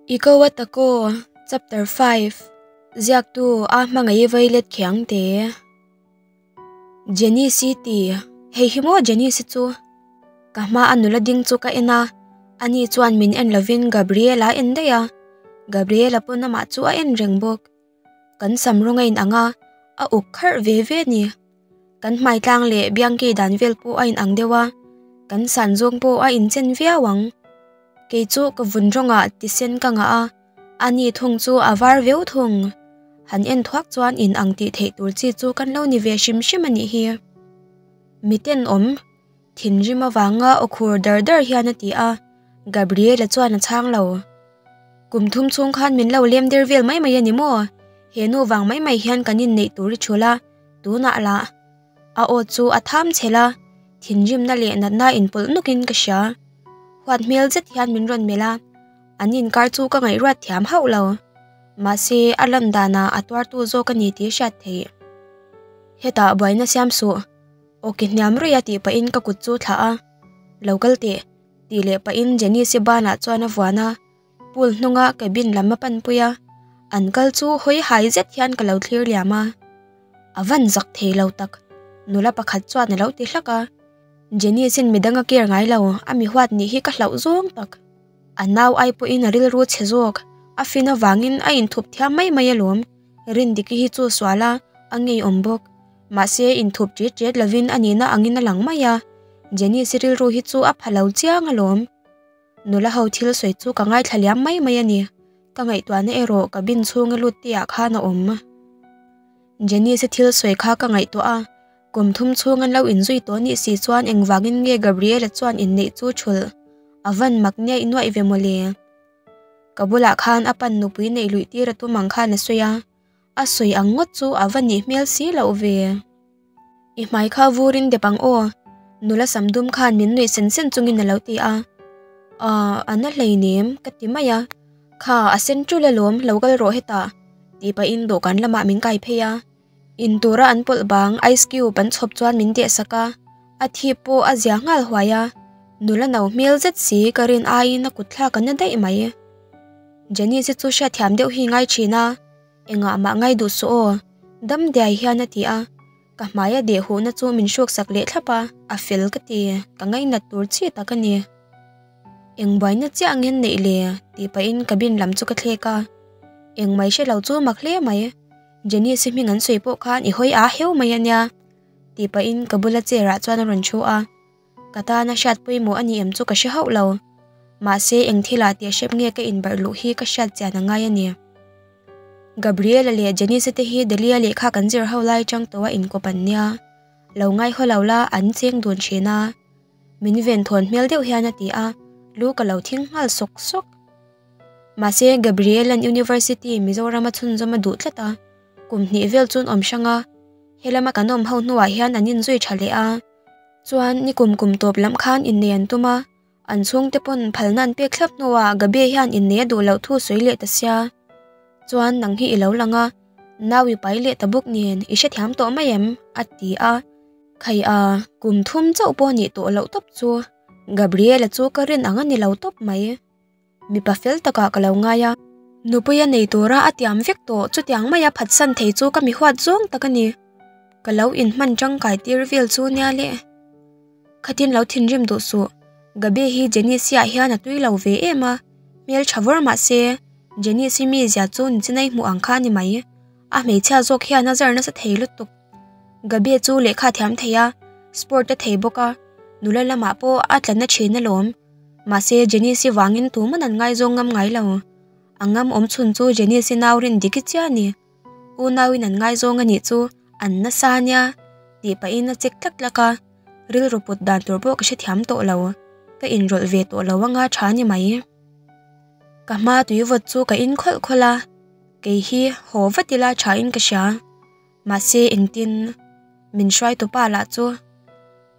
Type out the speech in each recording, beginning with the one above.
I ko a ta ko chapter five ziak tu a hmangai i vailet khe ang te jenny si ti hei hi maw jenny si chu ka hma a nula ding chu ka en a ani chuan min en lovin gabriela a en daih a gabriela pawn amah chu a en reng bawk. Kan sam rawn a in ang a, a uk kharh ve ve a ni. Kan hmaitlang leh Bianchi dan vel pawh a in ang deuh a, kan san zawng pawh a inchen viau ang. Kei chu ka vun rawnga ti sen ka ngah a, a ni thung chu a var viau thung. Han en thuak chuan in ang tih theih tur chi chu kan lo ni ve hrim hrim a nih hi. Miten awm. Thinrim avanga aw khur dar dar hian a ti a, Gabriela chuan a chhang lo. Kum thum chhung khan min lo lem der vel mai mai a ni maw? He nu vang mai mai hian kan innei tur i chhul a, tunah la a aw chu a tham chhe la, thinrimna leh natna in pawlh nawk in ka hria. Huat hmel zet hian min rawn melh a, an inkar chu ka ngaihruat thiam hauh lo. Mahse a landanah a tuartu zawk a ni tih a hriat theih. Hetah buaina siam suh. Awk i hniam ruih a tih pahin ka kut chu thlah a, Lo kal teh, tih leh pahin Janice-i banah chuan a vuan a, pool hnunga cabin lam a panpui a, an kal chu hawi hai zet hian ka lo thlir liam a, a van zak thei lo tak, nula pakhat chuan a lo ti hlak a, Janice-in midang a care ngai lo, a mihuat nih hi ka hlauh zawng tak, a nau ai pawhin a rilru chhe zawk, a fin avangin a inthup thiam mai mai alawm, Rindiki hi chu sual a, a ngeiawm bawk. Mahse, inthup ṭiat ṭiat lovin a nihna angin a lang mai a, Janice-i rilru hi chu a pha lo chiang a lawm. Nula ho thil sawi chu ka ngaithla liam mai mai a ni. Ka ngaihtuahna erawh ka bin chhung i lut te ah khan a awm. Janice-i thil sawi kha ka ngaihtuah a, kum thum chhung an lo inzui tawh a nih si chuan engvangin nge Gabriela chuan inneih chu chhulh a van mak nia i nuaih ve mawle? Ka bulah khan a pannu pui neih luih tir a tum ang khan a sawi a. A sawi ang ngawt chu a va nih hmel si loh ve. I hmai kha vur in dep ang aw. Nula sam dum khan min nuih sen sen chung in a lo ti a. Aw, a na hlei nem ka ti mai a. Kha a sen tul alawm, lo kal rawh heta. Tih pah in dawhkan lamah min kai phei a. In tur a an pawlh bang ice cube an chhawp chuan min deh sak a. A thip pawh a zia nghal huai a. Nula no hmel zet si ka rin aiin a kut thlak a na daih mai. Janice chu hriat thiam deuh hi ngai thin a. Engah mah ngai duh suh aw. Damdiai hian a ti a, ka hmaia deh huhna chu min hruaksak leh thlap a, a fel ka ti, ka ngainat tur chi tak a ni. Eng buaina chiah nghen neih le, tih pahin ka bin lam chu ka thlek a. Engmai hre lo chu mak hle mai. Janice-i hming an sawi pawh khan i hawi a heu mai a nia, tih pahin ka bula chair-ah chuan a rawn thu a. Ka tan a hriat pawimawh a ni em chu ka hre hauh lo. Mahse, eng thila tih a hrep nge ka inbarh luh hi ka hriat chian a ngai a ni. Gabriela leh Janice te hi Delhi-a lehkha kan zir ho lai atang tawh a inkawp an nia. Lo ngaihawh lo la, an cheng dun thin a. Min ven thawn hmel deuh hian a ti a, lu ka lo thing nghal sawk sawk. Mahse, Gabriela-n University Mizoram-a chhunzawm a duh tlat a, kum hnih vel chuan awm hrang a. Helama kan awm ho hnuah hian an inzui tha leh a. Chuan ni kum kum tawp lam khan innei an tum a, an chhungte pawn phalna an pek thlap hnu a, Gabi-a hian innei a duh loh thu sawi leh ta sia. Chuan nang hi i lo lang a, nau i pai leh ta bawk nen, i hre thiam tawh mai em? a ti a. Khai a, kum thum chauh pawh a nih tawh loh tawp chu, Gabriela chu ka rin ang a ni lo tawp mai. Mipa fel takah ka lo ngai a. Nupui a nei tura a tiam vek tawh, chutiang mai a phatsan thei chu ka mi huat zawng tak a ni. Ka lo inhman tangkai tir vel chu nia le. Khatin lo thinrim duh suh. Gabi hi Janice-iah hian a tui lo ve em a, hmeltha vawr mah se, Janice-i mizia chu ni chinai hmuh ang kha a ni mai. A hmeichhia zawk hian a zar nasa thei lutuk. Gabi chu lehkha a thiam thei a, sport a thei bawk a, nula lamah pawh a tla na thin alawm. Mahse, Janice-i vangin tuman an ngaizawng ngam ngai lo. A ngam awm chhun chu Janice-i nau rin dik i chiah a ni. Unauin an ngaizawng a nih chu an nasa nia tih pahin a check tlat lak a, rilru put dan tur pawh ka hre thiam tawh lo, ka inrawlh ve tawh lo anga tha ni mai. Ka hma tuivawt chu ka inkhawlh khawlh a, kei hi haw vat ila thain ka hria. Mahse engtin min hruai tawp a lah chu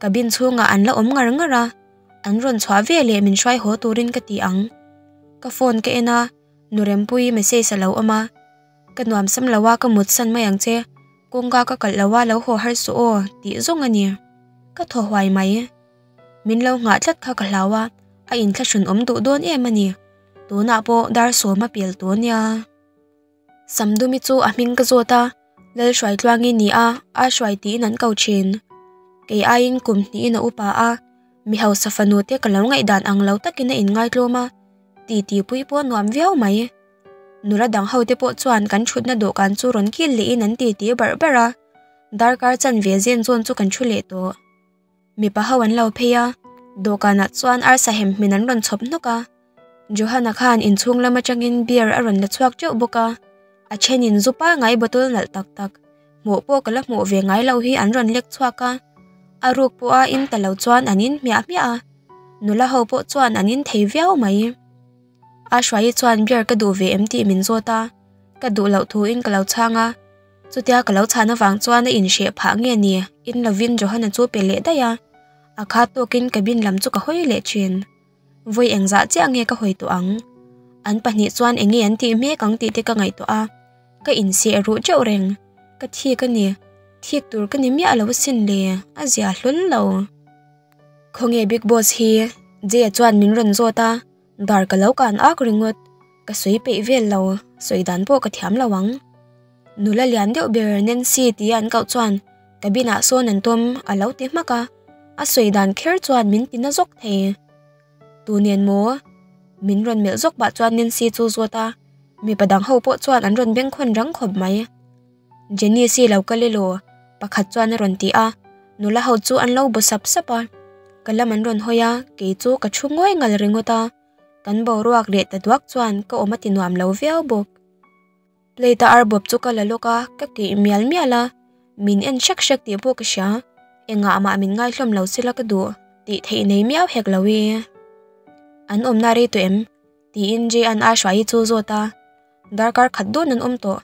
ka bin chhungah an la awm ngar ngar a, an rawn chhuah ve leh min hruai haw turin ka ti ang. Ka phone ka en a, Nu Rempuii message a lo awm a, ka nuam sam lo a ka mut san mai ang che, kawngka ka kalh lo a lo haw har suh aw tih zawng a ni. Ka thaw huai mai, min lo nghah tlat kha ka hlau a, a inthlahrun awm duh dawn em a ni, tunah pawh dar sawma pel tûr nia. Samdumi chu a hming ka zawt a, Lalhruai tluang i ni a, a hruai tiin an ko thin. Kei aiin kum hnihin a upa a, mi hausa fanu te ka lo ngaihdan ang lo takin a inngaithlawm a, titipuii pawh a nuam viau mai. Nula dang ho te pawh chuan kan thutna dawhkan chu rawn kil lehin an titi barh barh a, darkar chan ve zen zawn chu kan thu leh tawh. Mipa ho an lo phei a, dawhkanah chuan arsa hem hmin an rawn chhawp hnawk a. Johanna khan inchhung lam atangin beer a rawn la chhuak teuh bawk a, a thenin zu pangai bottle nalh tak tak, hmuh pawh ka la hmuh ve ngai lo hi an rawn lek chhuak a. A ruk pawha in ta lo chuan an in hmiah hmiah a, nula ho pawh chuan an in thei viau mai. A Hruaii chuan beer ka duh ve em tih min zawt a, ka duh loh thu in ka lo chhang a. Chutia ka lo chhan avang chuan a inhreh phah nge ni? In lovin Johanna chu pe leh daih a, a khat tawkin cabin lam chu ka hawi leh thin. Vawi engzah chiah nge ka hawi tawh ang? An pahnih chuan eng nge an tih hmek ang tih te ka ngaih tawh a, ka inseh ruh teuh reng. Ka thik a ni, thik tur ka ni miah a lo sin le, a zia hlul lo. Khawnge Bigg Boss hi? Jay-a chuan min rawn zawt a. Dar ka lo kan ak ringawt, ka sawi peih vel lo, sawi dan pawh ka thiam lo ang. Nula lian deuh ber Nancy tia an kauh chuan ka binah sawn an tum a lo ti hmak a, a sawi dan kher chuan min ti na zawk thei. Tu nen maw? Min rawn melh zawk bah chuan Nancy chu zuat a, mipa dang ho pawh chuan an rawn beng khawn rang khawp mai. Jenny si lo ka le law, pakhat chuan a rawn ti a, nula ho chu an lo bu sap sap a, ka lam an rawn hawi a, kei chu ka thu ngawih ngal ringawt a, kan boruak leh ta duak chuan ka awm a ti nuam lo viau bawk. Plate a arbawp chu ka la lawk a, ka keih mial mial a, min en hrek hrek tih pawh ka hria, engah amah min ngaihlawm lo sila ka duh tih theih nei miau hek lo i, an awmna a rei tawh em? Tiin Jean-a Hruaihi chu zawt a, darkar khat dawn an awm tawh.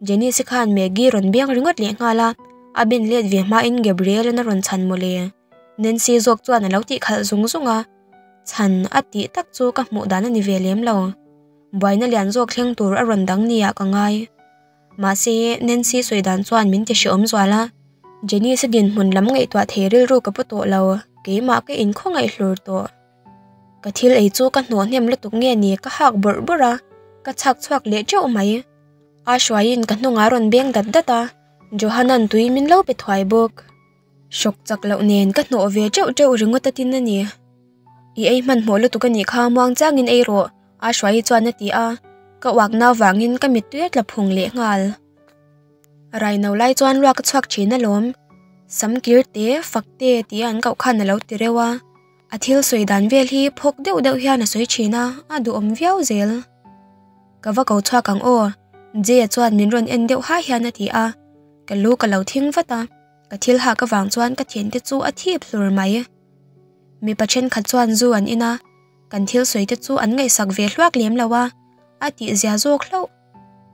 Janice-i khan Maggie rawn beng ringawt leh nghal a, a ben let ve hmain Gabriel-in a rawn chhan maw le? Nancy zawk chuan a lo tih khalh zung zung a, chhan a tih tak chu ka hmuh dan a ni ve lem lo. Buaina lian zawk thleng tur a rawn dang nia ka ngai. Mahse, Nancy sawi dan chuan min ti hreawm zual a, Janice-i dinhmun lam ngaihtuah thei rilru ka pu tawh lo, keimah ka inkhawngaihlur tawh. Ka thil ei chu ka hnawh hnem lutuk nge ni ka hak bawrh bawrh a, ka chhak chhuak leh teuh mai. A Shuaiin ka hnungah a rawn beng dat dat a, Johanna'n tui min lo pe thuai bawk. Shock chak loh nen ka hnawh ve teuh teuh ringawt atin a ni. I ei hmanhmawh lutuk anih kha muang changin ei rawh, a Shuai chuan a ti a, ka uak nau vangin ka mit tuia tla phung leh nghal. A raino lai chuan lua ka chhuak thin alawm, sam kir te, fak te tih a an koh khan a lo ti reuh a. A thil sawi dan vel hi phawk deuh deuh hian a sawi thin a, a duhawm viau zel. Ka va ko chhuak ang aw, Jay-a chuan min rawn en deuh hai hian a ti a, ka lu ka lo thing vat a, ka thil hak avang chuan ka thian te chu a thip hlur mai. Mipa thenkhat chuan zu an in a, kan thil sawi te chu an ngaihsak ve hluak lem lo a, a tih zia zawk hlauh.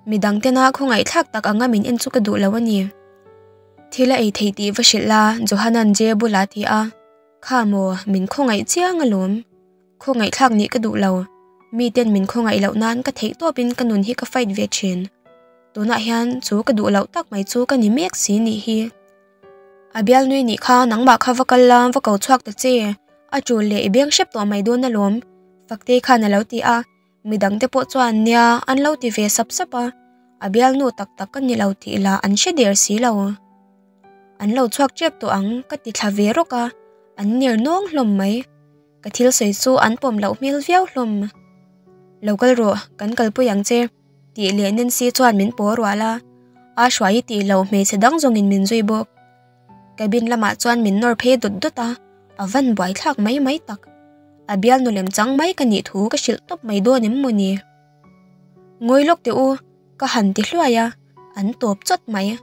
Midang tena khawngaihthlak tak anga min en chu ka duh lo a ni. Thil a ei thei tih va hrilh la, Johanna-n Jay bula ti a. Kha maw, min khawngaih chiang alawm. Khawngaihtlak nih ka duh lo. Miten min khawngaih loh nan ka theih tawp in ka nun hi ka fight ve thin. Tunah hian chu ka duh loh tak mai chu ka ni mek si nih hi. A Bialnui nih kha nangmah kha va kal la, va ko chhuak ta che. A tul leh i beng hrep tawh mai dawn alawm. Fakte khan alo ti a. mi dang te pawh chuan nia an lo ti ve sap sap a a bialnu tak tak ka nilo tih lah an hre der si lo an lo chhuak tep tawh ang ka ti thla ve rawk a an ner nawng hlawm mai ka thil sawi chu an pawm loh hmel viau hlawm lo kal rawh kan kal pui ang che tih leh Nancy chuan min pawh rual a a hruai i tih loh hmeichhe dang zawngin min zui bawk. Cabin lamah chuan min nawr phei dawt dawt a, a van buai thlak mai mai tak. A bialnu lem chang mai ka nih thu ka hrilh tawp mai dawn em maw ni? Ngawi lawk teh u, ka han ti hluai a, an tawp chawt mai.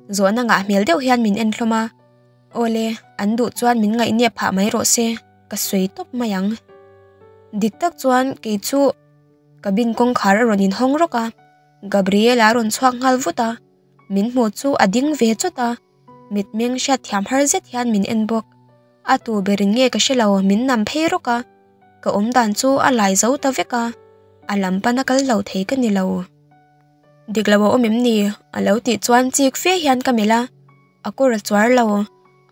Zawhna ngah hmel deuh hian min en hlawm a, aw le, an duh chuan min ngaihniap phah mai rawh se, ka sawi tawp mai ang. Dik tak chuan kei chu cabin kawngkhar a rawn inhawng rawk a, Gabriela a rawn chhuak nghal vut a. Min hmuh chu a ding ve chawt a, mitmeng hriat thiam har zet hian min en bawk. A tu berin nge ka hre lo, min nam phei rawk a, ka awm dan chu a lai zo ta vek a, a lam pan a kal lo thei ka ni lo. Dik lo a awm em ni? a lo tih chuan chik fe hian ka melh a, a kawr a chuar lo,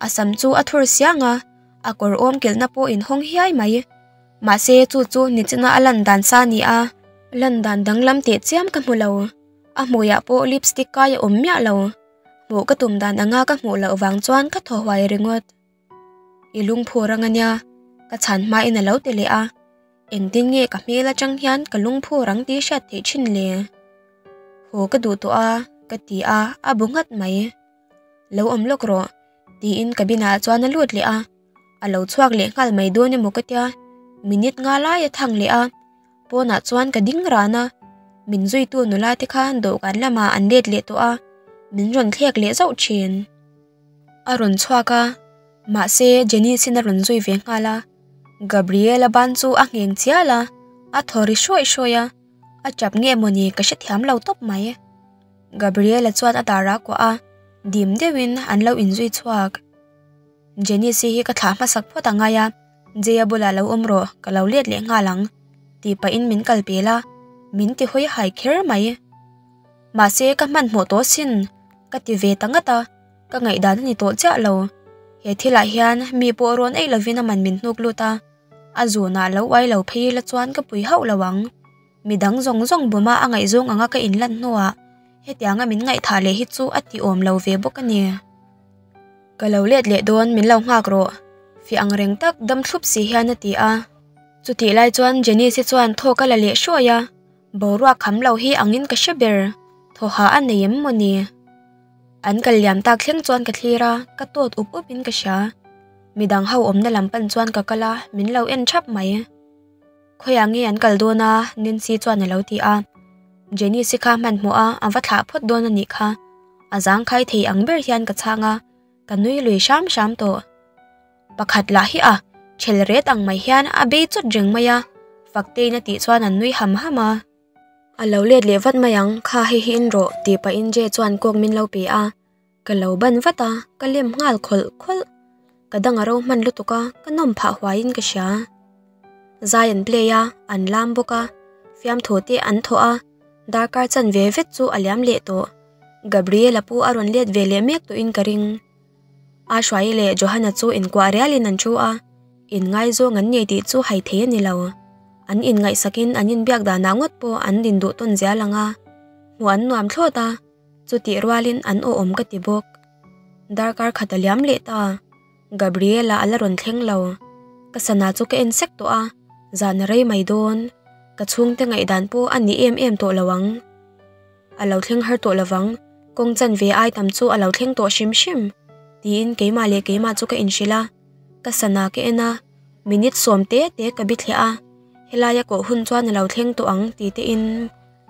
a sam chu a thur siang a, a kawr awm kilhna pawh in hawng hiai mai. Mahse chu chu nichina a lan dan sa a ni a, lan dan danglam teh chiam ka hmu lo. A hmuiah pawh lipstick kai a awm miah lo, hmuh ka tum dan anga ka hmuh loh vang chuan ka thaw huai ringawt. I lungphur anga nia, ka chhan hmain a lo ti leh a, engtin nge ka hmel atang hian ka lungphur ang tih hriat theih thin le. Haw ka duh tawh a, ka ti a, a bu nghat mai. Lo awm lawk rawh, tiin ka binah chuan a lut leh a. a lo chhuak leh nghal mai dawn emaw ka tia minute nga lai a thang leh a pawnah chuan ka ding ran a min zuitu nula te khan dawhkan lamah an let leh tawh a min rawn thlek leh zauh thin a rawn chhuak a mahse Janice in a rawn zui ve nghal a Gabriel a ban chu a ngheng chial a a thaw ri hruai hruai a a tap nge maw ni ka hre thiam lo tawp mai e Gabriel a chuan a dar a kuah a dim deuhin an lo inzui chhuak. Janice hi ka thlah hmasak phawt a ngai a, Jay-a bulah lo awm rawh, ka lo let leh nghal ang, tih pahin min kal pel a, min ti hawi hai kher mai. Mahse, ka hmanhmawh tawh sin, ka ti ve ta ngat a, ka ngaihdan a ni tawh chiah lo. He thilah hian mi pawh rawn ei lovin a man min hnuk lut a, a zunah lo uai lo phei ila chuan ka pui hauh lo ang. midang zawng zawng bawma a ngaihzawng ang a ka in lan hnu ah heti anga min ngaih thah leh hi chu a ti awm lo ve bawk a ni ka lo let leh dawn min lo nghak rawh fiah ang reng tak dam thlup si hian a ti a chuti lai chuan Janice hi chuan thawk a la leh hruai a boruak kham lo hi ang in ka hre ber thaw ha a nei em maw ni an kal liam tak thleng chuan ka thlir a ka tawt up up in ka hria midang ho awmna lam pan chuan ka kal a min lo en thap mai. Khawiah nge an kal dawn a? Nancy chuan a lo ti a. Janice-i kha hmanhmawh a, a va thlah phawt dawn a nih kha. A zang khai thei ang ber hian ka chhang a, ka nui lui hram hram tawh. Pakhat lah hi a, chhel ret ang mai hian a bei chawt reng mai a, faktein a tih chuan an nui ham ham a. A lo let leh vat mai ang, kha hei hi in rawh, tih pahin Jay chuan kawk min lo pe a. Ka lo ban vat a, ka lem nghal khawlh khawlh. Ka dang a ro hman lutuk a, ka nawm phah huaiin ka hria. Zai an play a, an lam bawk a, fiamthu te an thaw a, darkar chan ve vet chu a liam leh tawh. Gabriela pu a rawn let ve leh mek tuhin ka ring. Ashwai leh Johanna chu inkuah rialin an thu a, inngai zawng an nei tih chu hai thei a ni lo. An inngaihsakin an inbiak danah ngawt pawh an din duh tawn zial ang a, hmuh an nuam thlawt a. Chutih rualin an awh awm ka ti bawk. Darkar khat a liam leh ta a, Gabriela a la rawn thleng lo. Ka sana chu ka en sek tawh a, zan a rei mai dawn. Ka chhungte ngaihdan pawh a nih em em tawh lo ang. A lo thleng har tawh lo vang. Kawng chanve ai tam chu a lo thleng tawh hrim hrim. Tiin keimah leh keimah chu ka inhrilh a, ka sana ka en a, minute sawm te te ka bi thleh a, helaia kawh hun chuan a lo thleng tawh ang tih tein,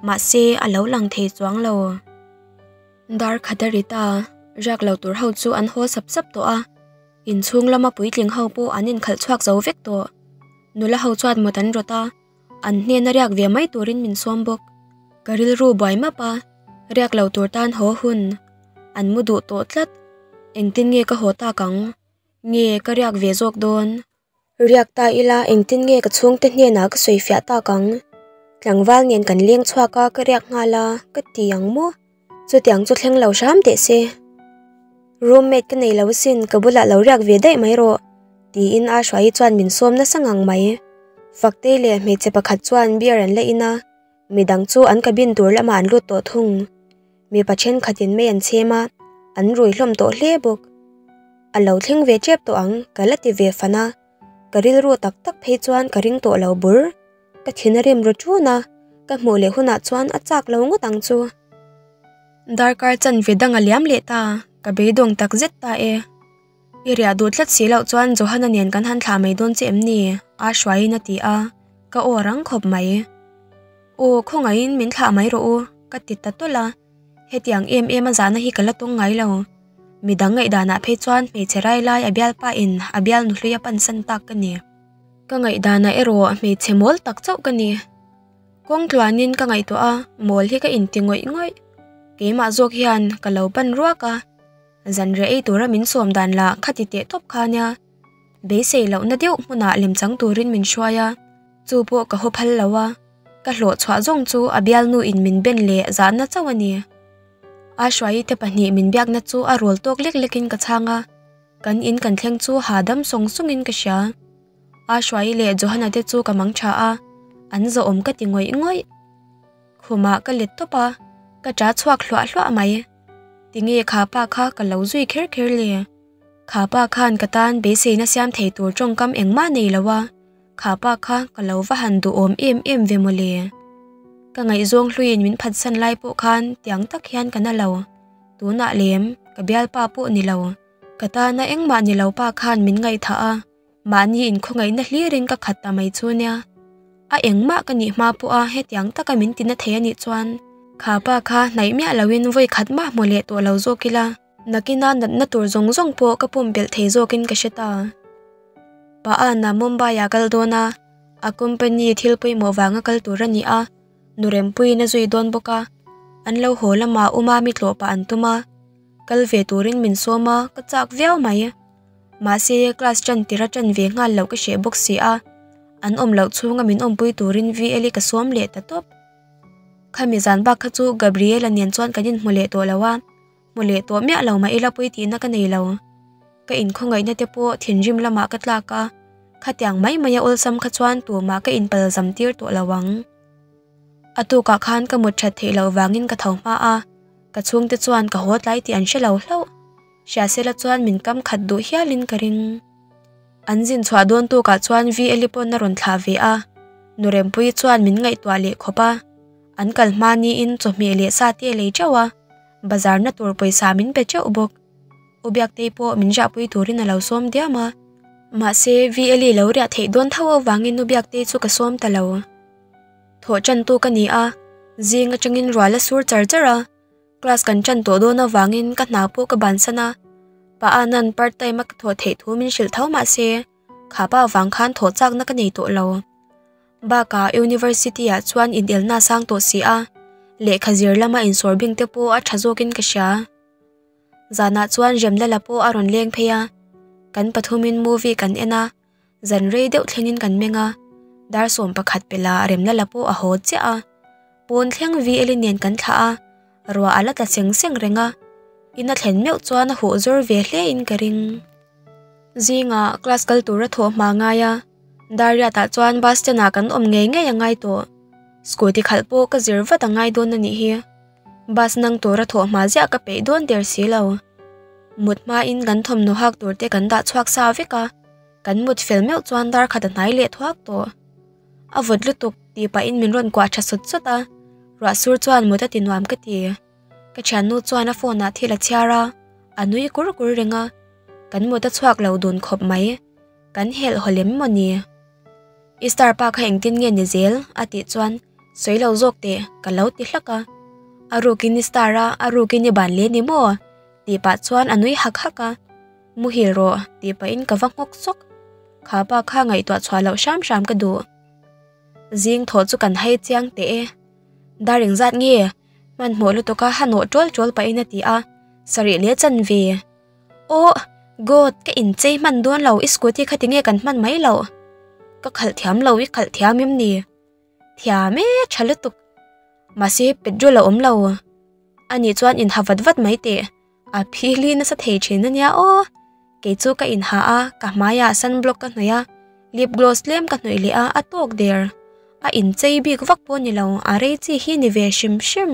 Mahse a lo lang thei chuang lo. Dar khat a rit a, riak lo tur ho chu an haw sap sap tawh a, in chhung lama puitling ho pawh an inkhalh chhuak zo vek tawh. Nula ho chuan mut an rawt a, an hnena riak ve mai turin min sawm bawk. Ka rilru buai map a, riak lo tur tan haw hun an mu duh tawh tlat. Engtin nge ka haw tak ang? Nge ka riak ve zawk dawn? Riak ta ila, engtin nge ka chhungte hnenah ka sawi fiah tak ang? Tlangval nen kan leng chhuak a, ka riak nghal a, ka ti ang maw? Chutiang chu thleng lo hram teh se. Roommate ka nei lo sin, ka bulah lo riak ve daih mai rawh. Tiin a hruai hi chuan min sawm nasa ngang mai. Faktei leh hmeichhe pakhat chuan beer an la in a. Midang chu an cabin tur lamah an lut tawh thung. Mipa thenkhatin mai an chhem a, an rui hlawm tawh hle bawk. A lo thleng ve tep tawh ang, ka la ti ve fan a. Ka rilru tak tak phei chuan ka ring tawh lo bur. Ka thin a rem ru chun a, ka hmuh leh hunah chuan a chak lo ngawt ang chu. Darkar chan ve dang a liam leh ta, ka beidawng tak zet ta e. I riah duh tlat si loh chuan Johan-a nen kan han thlah mai dawn che em ni? a hruaiin a ti a, ka aw rang khawp mai. Aw, khawngaihin min thlah mai rawh u, ka ti ta tawlh a, hetiang em em a zahna hi ka la tawng ngai lo. Midang ngaihdanah phei chuan hmeichhe railai a bialpa in a bialnu hlui a pansan tak ka ni. Ka ngaihdanah erawh hmeichhe mawl tak chauh ka ni. Kawng tluanin ka ngaihtuah a, mawl hi ka inti ngawih ngawih. Keimah zawk hian ka lo pan ruak a. Zanriah ei tura min sawm dan la, khati teh tawp kha nia. Beisei lohna deuh hmuna lem chang turin min hruai a, chu pawh ka haw phal lo a. Ka hlawh chhuah zawng chu a bialnu in min ben leh zahna chauh a ni. A hruai te pahnih min biakna chu a rual tawk lek lekin ka chhang a, kan in kan thleng chu ha dam sawng sawngin ka hria. A hruai leh Johanna te chu ka mang tha a, an zawh awm ka ti ngawih ngawih. Khumah ka let tawp a, ka ṭa chhuak hluah hluah mai. Tinge kha pa kha ka lo zui kher kher le? Kha pa khan ka tan beiseina siam thei tur tawngkam engma nei lo a, kha pa kha ka lo va han duhawm em em ve maw le? Ka ngaihzawng hluin min phatsan lai pawh khan tiang tak hian ka na lo, tunah lem ka bialpa pawh ni lo, ka tana engmah ni lo pa khan min ngaihthah a. mahni in khawngaihna hlirin ka khat ta mai chu nia a engmah ka nih hma pawh a hetiang taka min ti na thei a nih chuan kha pa kha hnaih miah lo in vawi khat mah hmu leh tawh lo zawk ila nakina natna tur zawng zawng pawh ka pawm belh thei zawk in ka hre ta pa anna mumbai ah kal dawn a a company thil pawimawh vanga kal tur a ni a nu rempuii in a zui dawn bawk a an lo haw lamah umami tlawh pah an tum a kal ve turin min sawm a ka chak viau mai. Mahse, class ṭan tirh a ṭan ve nghal loh ka hreh bawk si a, an awm loh chhunga min awmpui turin VL i ka sawm leh ta tawp. Khami zan bak kha chu Gabriela nen chuan kan inhmu leh tawh lo a, hmu leh tawh miah lo mah ila pawiti na ka nei lo. Ka inkhawngaihtna te pawh thinrim lamah ka tlak a, khatiang mai mai a awlsam kha chuan tumah ka inpalzam tir tawh lo ang. A tukah khan ka mut ṭhat theih loh vangin ka tho hma a, ka chhungte chuan ka haw tlai tih an hre lo hlauh. Hriatsela chuan min kam khat duh hialin ka ring. An zin chhuah dawn tukah chuan Veli pawh na rawn thlah ve a, Nurempui chuan min ngaihtuah leh khawp a, an kal hma niin chawhmeh leh sa te lei teuh a, bazar na tur pawisa min pe teuh bawk. U Biaktei pawh min rahpui turin a lo sawm diam a, mahse Veli lo riah theih dawn tho avangin U Biaktei chu ka sawm ta lo. Thawh tantu ka ni a, zing atangin ruala sur char char a. Class kan tan tawh dawn avangin ka hna pawh ka ban san a, pa a nan part time a ka thawh theih thu min hrilh tho mah se kha pa vang khan thawh chak na ka nei tawh lo. Baka University ah chuan in el na sang tawh si a, lehkha zir lama in sawr bing te pawh a tha zawk in ka hria. Zanah chuan Remlala pawh a rawn leng phei a, kan pathum in movie kan en a. Zan rei deuh thlengin kan meng a, dar sawm pakhat pela remna la pawh a haw chiah a. Pawn thleng vi elin nen kan thlah a, ruah a la ta seng seng reng a. In a thlen meuh chuan a huh zawr ve hle in ka ring. Zingah class kal tur a thawh hma ngai a, dar riat ah chuan bus stand ah kan awm ngei ngei a ngai tawh. Scooty khalh pawh ka zir vat a ngai dawn a nih hi. Bus nâng tûra thawh hmâl ziah ka peih dâwn der si lo. Mut hmain kan thawmhnaw hâk tûr te kan dah chhuak sa vek a, kan mut fel meuh chuan darkhat a hnai leh thuak tawh. A vawt lutuk tih pahin min rawn kuah ṭha sawt sawt a, Ruahsur chuan mut a tinuam ka ti. Ka ṭhiannu chuan a phone-ah thil a chhiar a, a nui kur kur reng a, kan mut a chhuak lo dun khawp mai. Kan helh haw lem maw ni? Easter pa kha engtin nge ni zel? a tih chuan sawi lo zawk teh ka lo ti hlak a. A rukin Easter a, a rukin i ban leh ni maw? tih pah chuan a nui hak hak a. Muhil rawh tih pahin ka va nghawk sawk. Kha pa kha ngaihtuah chhuah loh hram hram ka duh. Zing thaw chu kan hai chiang teh e. Dar eng zat nge hmanhmawh lutuk a, ha nawh ṭawl ṭawl pahin a ti a, sarih leh chan ve. Aw, God, ka inchei hman dawn lo, i scooty kha tinge kan hman mai lo? Ka khalh thiam lo, i khalh thiam em ni? Thiam e, tha lutuk. Mahse petrol a awm lo. Ani chuan inha vat vat mai teh. A phili nasa thei thin a nia aw. Kei chu ka inha a, ka hmaia sunblock ka hnawih a, lip gloss tlem ka hnawih leh a, a tawk der. A inchei bik vak pawh a ni lo, a rei chi hi a ni ve hrim hrim.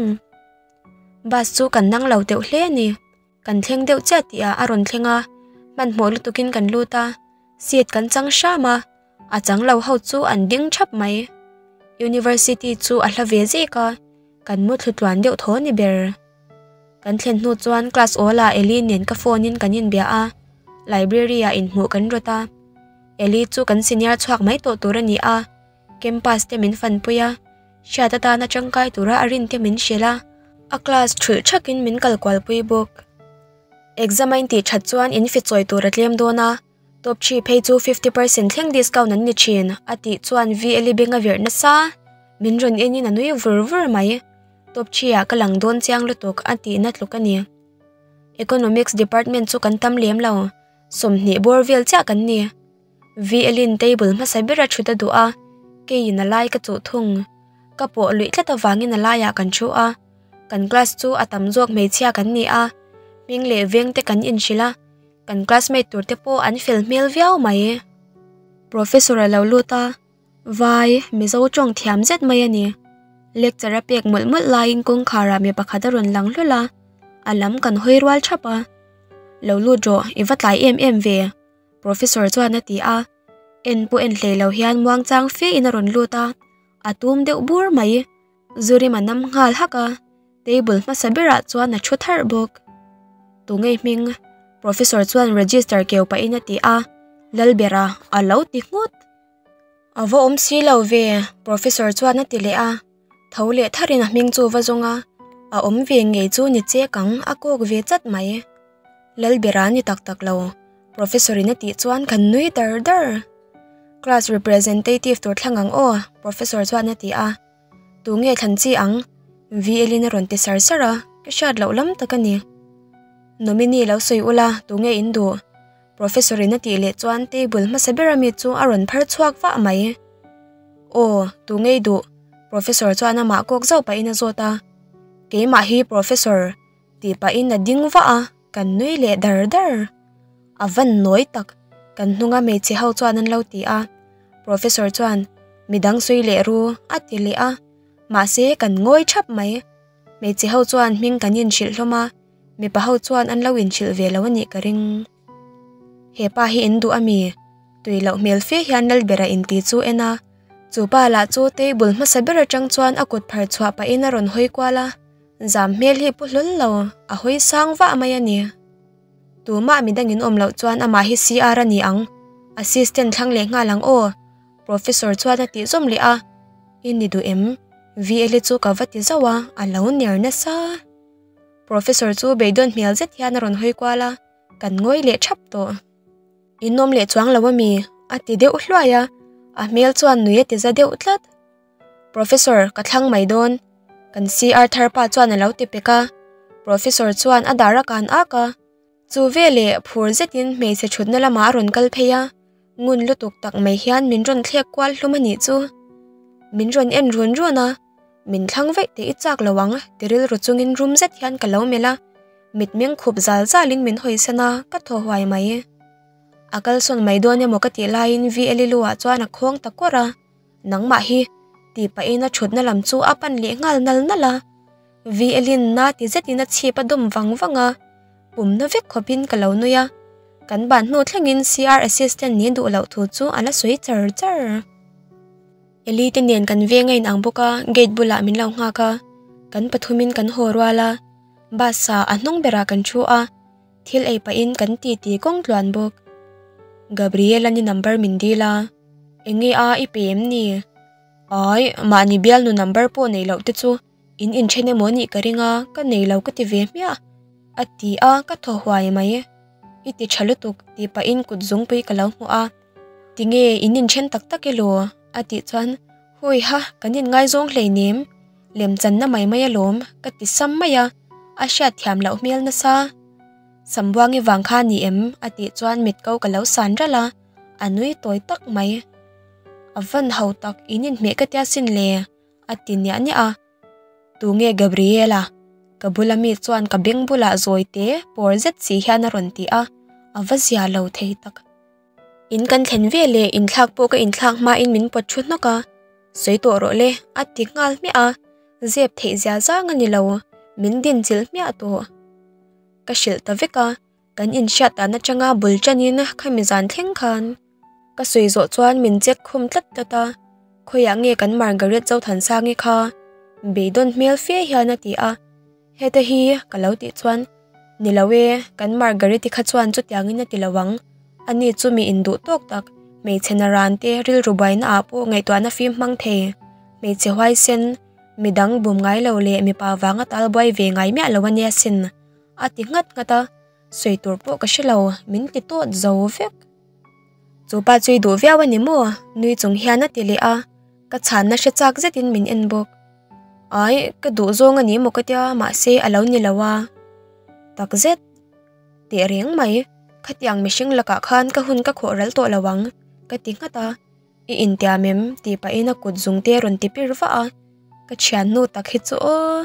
Bus chu kan nang lo teuh hle a ni. Kan thleng deuh chiah tih ah a rawn thleng a, hmanhmawh lutuk in kan lut a, seat kan chang hram a, a chang lo ho chu an ding thap mai. University chu a hla ve zek a, kan mu thlu tluan deuh thaw ni ber. Kan thlen hnu chuan class awl ah Ellie nen ka phone in kan inbia a, library ah inhmuh kan rawt a. Ellie chu kan senior chhuak mai tawh tur a ni a. Campus te min fanpui a, hriat atana tangkai tura a rin te min hrilh a, a class ṭhulh ṭhakin min kal kualpui bawk. Exam a intih ṭhat chuan in fi chawi tur a tlem dawn a, top three phei chu fifty percent thleng discount an ni ṭhin a tih chuan VLE Bank a virh nasa min rawn enin a nui vur vur mai. Top three ah ka lang dawn chiang lutuk a tihna tluk a ni. Economics department chu kan tam lem lo, sawmhnih bawr vel chiah kan ni. Vialin table hmasa bera thut a duh a, kei in a lai ka chuh thung. Ka pawh luih tlat avangin a laiah kan thu a, kan class chu a tam zawk hmeichhia kan ni a, hming leh veng te kan inhrilh a, kan classmate tur te pawh an fel hmel viau mai e. Professor a lo lut a, Vai, Mizo tawng thiam zet mai a ni. Lecture a pek mawlh mawlh laiin kawngkhar ah mi pakhat a rawn lang hlawlh a, a lam kan hawi rual thap a, Lo lut rawh, i va tlai em em ve. Professor chuan a ti a, en pawh en hlei lo hian muangchang fe in a rawn lut a, a tum deuh bur mai. Zurim a nam nghal hak a, table hmasa berah chuan a thu thar bawk. Tu ngei hming, Professor chuan register keu pahin a ti a, Lalbera, a lo ti nghut. A va awm si lo ve, Professor chuan a ti leh a, tho leh thar in a hming chu va zawng a, a awm ve ngei chu ni che kang a kawk ve chat mai. Lalbera ni tak tak lo, Professor in a tih chuan kan nui dar dar. Class representative tur thlang ang aw, Professor chuan a ti a. Tu nge thlan chi ang? Vielin a rawn ti sar sar a, ka hriat loh lam tak a ni. Nominee lo sawi ula, tu nge in duh? Professor-in a tih leh chuan table hmasa bera mi chu a rawn phar chhuak vah mai. Aw, tu nge i duh? Professor chuan amah kawk zauh pahin a zawt a, Keimah hi Professor, tih pahin a ding vah a kan nui leh dar dar a van nawi tak kan hnung a hmeichhe ho chuan an lo ti a professor chuan midang sawi leh ru a ti leh a mahse kan ngawi thap mai hmeichhe ho chuan hming kan inhrilh hlawm a mipa ho chuan an lo inhrilh ve lo a nih ka ring. He pa hi in duh a mi? Tui loh hmel fe hian Lalber a inti chu en a. Chu pa lah chu table hmasa ber atang chuan a kut phar chhuah pahin a rawn hawi kual a. Zam hmel hi pu hlawl lo, a hawi sang vah mai a ni. Tumah midang in awm loh chuan amah hi CR a ni ang. Assistant thlang leh nghal ang aw. Professor chuan a tih zawm leh a. I ni duh em? Vl-i chu ka va ti zauh a, a lo ner nasa. Professor chu beidawn hmel zet hian a rawn hawi kual a, Kan ngawi leh thap tawh. I nawm leh chuang lo a mi? a ti deuh hluai a, a hmel chuan nui a ti za deuh tlat. Professor ka thlang mai dawn. Kan CR thar pa chuan a lo ti pek a, Professor chuan a dar a kan ak a. Chu veleh phur zetin hmeichhe thutna lamah a rawn kal phei a, ngun lutuk tak mai hian min rawn thlek kual hlum a nih chu. Min rawn en ruan ruan a, min thlang veih teh i chak lo ang, ti rilru chungin rum zet hian ka lo melh a, mitmeng khup zal zalin min hawisan a, ka thaw huai mai. A kalsawn mai dawn emaw ka tih laiin VLILU-ah chuan a khawng ta kuar a. Nangmah hi tihpah in a thutna lam chu a pan leh nghal nal nal a. Violin-a ti zetin a chhip a dum vang vang a. Pumna vek khawpin ka lo nui a, kan ban hnu thlengin CR assistant nih duh loh thu chu a la sawi char char. Eli te nen kan veng a in ang bawk a, gate bulah min lo nghak a, kan pathumin kan haw rual a, bus-a a hnung berah kan thu a. Thil ei pahin kan ti ti kawng tluan bawk. Gabriela ni number min dil a, eng nge a i pe em ni? Ai, mahni bial nu number pawh nei loh te chu in inthen emaw nih ka ring a, ka nei lo ka ti ve hmiah a ti a, ka thaw huai mai. I ti tha lutuk tih pahin kut zungpui ka lo hmu a, ti nge in inthen tak tak elaw? a tih chuan, Hawiha, kan inngai zawng hlei nem. lem chan na mai mai a lawm ka ti sam mai a, a hriat thiam loh hmel nasa sam buangi vang kha ni em a tih chuan mit ko ka lo san ralh a, a nui tawi tak mai a van ho tak in inhmeh ka tia sin le a ti niah niah a, tu nge Gabriela ka bula mi chuan ka beng bulah zawite pawr zet si hian a rawn ti a, a va zia lo thei tak. In kan thlen ve le in thlak pawh ka in thlak hma in min pawt thu hnawk a, sawi tawh rawh le a ti nghal hmiah a, zep theih zia zang a ni lo, min din chilh hmiah tawh. Ka hrilh ta vek a, kan in hriat dan atanga bul tan in kha mi zan thleng khan ka sawi zawh chuan min chet khawm tlat tlat a, khawiah nge kan Margaret Zothansang i kha beidawn hmel fe hian a ti a. Heta hi ka lo tih chuan, Ni lo e, kan Margariti kha chuan chutiangin a ti lo ang. A ni chu miin duh tawk tak, hmeichhe na ran te rilru buaina ah pawh ngaihtuahna fim hmang thei. Hmeichhe huaisen, midang bum ngai lo leh mipa vanga tal buai ve ngai miah lo a nia sin, a ti nghat nghat a. Sawi tur pawh ka hre lo, min ti tawt zo vek. Chupa chu i duh viau a ni maw? Nui chung hian a ti leh a, ka chhanna hre chak zetin min en bawk. Ai, ka duh zawng a ni maw ka tia, mahse a lo ni lo a. Takzet, teh reng mai, khatiang mihring lakah khan ka hun ka khawhral tawh lo ang, ka ti nghat a. I intiam em? tih pahin a kut zung te a rawn ti pir vah a, ka thian hnu tak hi chu aw.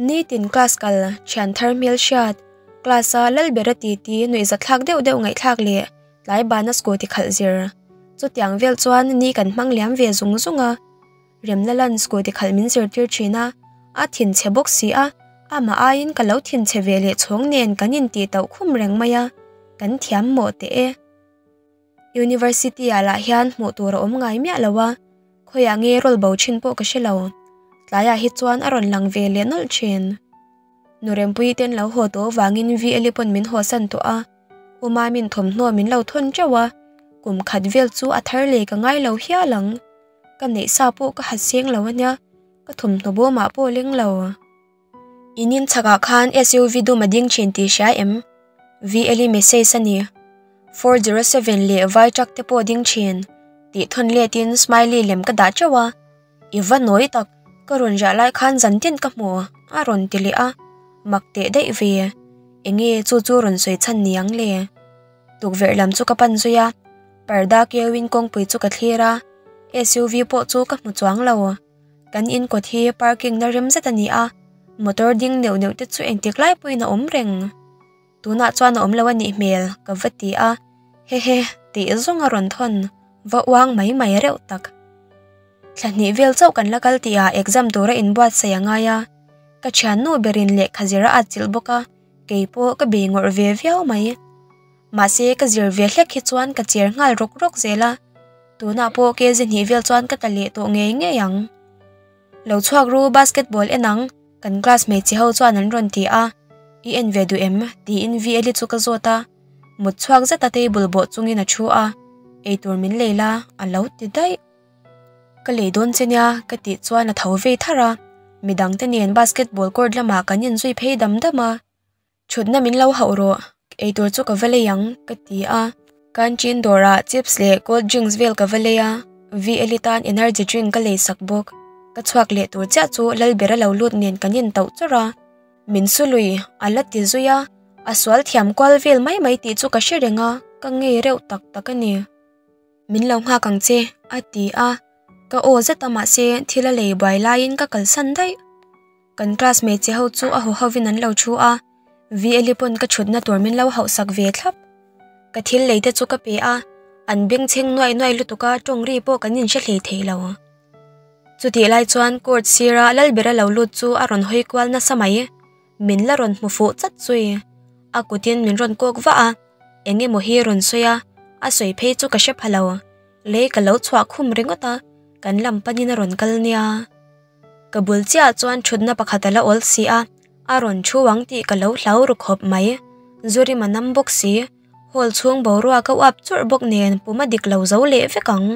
Nitin class kal thian thar hmel hriat, class a lal ber a ti ti nuihzat thlak deuh deuh ngaihthlak leh tlai bana scooty khalh zir. Chutiang vel chuan ni kan hmang liam ve zung zung a, remna lan scooty khalh min zirtir thin a, a thin chhe bawk si a, amah aiin ka lo thin chhe ve leh chhawng nen kan intih tauh khum reng mai a, kan thiam maw teh e. University-a lah hian hmuh tur a awm ngai miah lo a, khawiah nge rawl bo thin pawh ka hre lo. Tlaiah hi chuan a rawn lang ve leh nawlh thin. Nurempui ten lo haw tawh vangin Vieli pawn min haw san tawh a, Uma min thawmhnaw min lo thawn teuh a, kum khat vel chu a thar leh ka ngai lo hial ang. Ka neih sa pawh ka ha seng lo a nia, ka thawmhnaw bawmah pawh leng lo. I nin chhakah khan SUV dum a ding thin tih hria em? Veli message a ni. 407 leh vai truck te pawh ding thin. Tih thawn letin smiley lem ka dah teuh a. I va nawi tak, ka rawn riah lai khan zan tin ka hmu a rawn ti leh a. Mak teh daih ve. Eng nge chu chu rawn sawi chhan ni ang le. Tukverh lam chu ka pan zui a, parda keu in kawngpui chu ka thlir a, SUV pawh chu ka hmu chuang lo. Kan in kawt hi parking na rem zet a ni a, motor ding neuh neuh te chu engtik lai pawhin a awm reng. Tunah chuan a awm lo a nih hmel ka va ti a, he he tih zawng a rawn thawn va uang mai mai reuh tak. Thla hnih vel chauh kan la kal tih ah exam tura in buatsaih a ngai a, ka thiannu berin lehkha zira a chilh bawk a, kei pawh ka bei ngawrh ve viau mai. Mahse ka zir ve hlek hi chuan ka cher nghal rawk rawk zel a, tunah pawh KZ hnih vel chuan ka ta leh tawh ngei ngei ang. Lo chhuak ru basketball en ang, kan class hmeichhe ho chuan an rawn ti a, i en ve duh em? tiin Vieli chu ka zawt a, mut chhuak zeta table bawh chungin a thu a, eitur min lei la, a lo ti daih. Ka lei dawn che nia ka tih chuan a tho vei thar a, midangte nen basketball court lamah kan inzui phei dam dam a, Thutna min lo hauh rawh, eitur chu ka va lei ang, ka ti a. Canteen dawrah chips leh cold drinks vel ka va lei a, Vi Elite a'n energy drink ka lei sak bawk. Ka chhuak leh tur chiah chu lal ber a lo lut nen kan en tauh chawrh a. Min su lui, a la ti zui a, a sual thiam kual vel mai mai tih chu ka hre reng a, ka ngei reuh tak tak a ni. Min lo nghak ang che, a ti a. Ka aw zet a mahse thil a lei buai laiin ka kalsan daih. Kan class hmeichhe ho chu a haw hovin an lo thu a, Vieli pawn ka thutna tur min lo hauhsak ve thlap. Ka thil lei te chu ka pe a, an bengchheng nuai nuai lutuk a, tawng ri pawh kan inhre hlei thei lo. Chutih lai chuan court sira lal ber a lo lut chu a rawn hawi kual nasa mai, min la rawn hmu fuh chat zui. A kutin min rawn kawk vah a, eng emaw hi rawn sawi a, a sawi phei chu ka hre pha lo. Lei ka lo chhuah khum ringawt a, kan lam panin a rawn kal nia. Ka bul chiah chuan thutna pakhat a la awl si a, a rawn thu ang tih ka lo hlau ru khawp mai. Zurim a nam bawk si, hall chhung boruak a uap churh bawk nen pum a dik lo zo leh vek ang.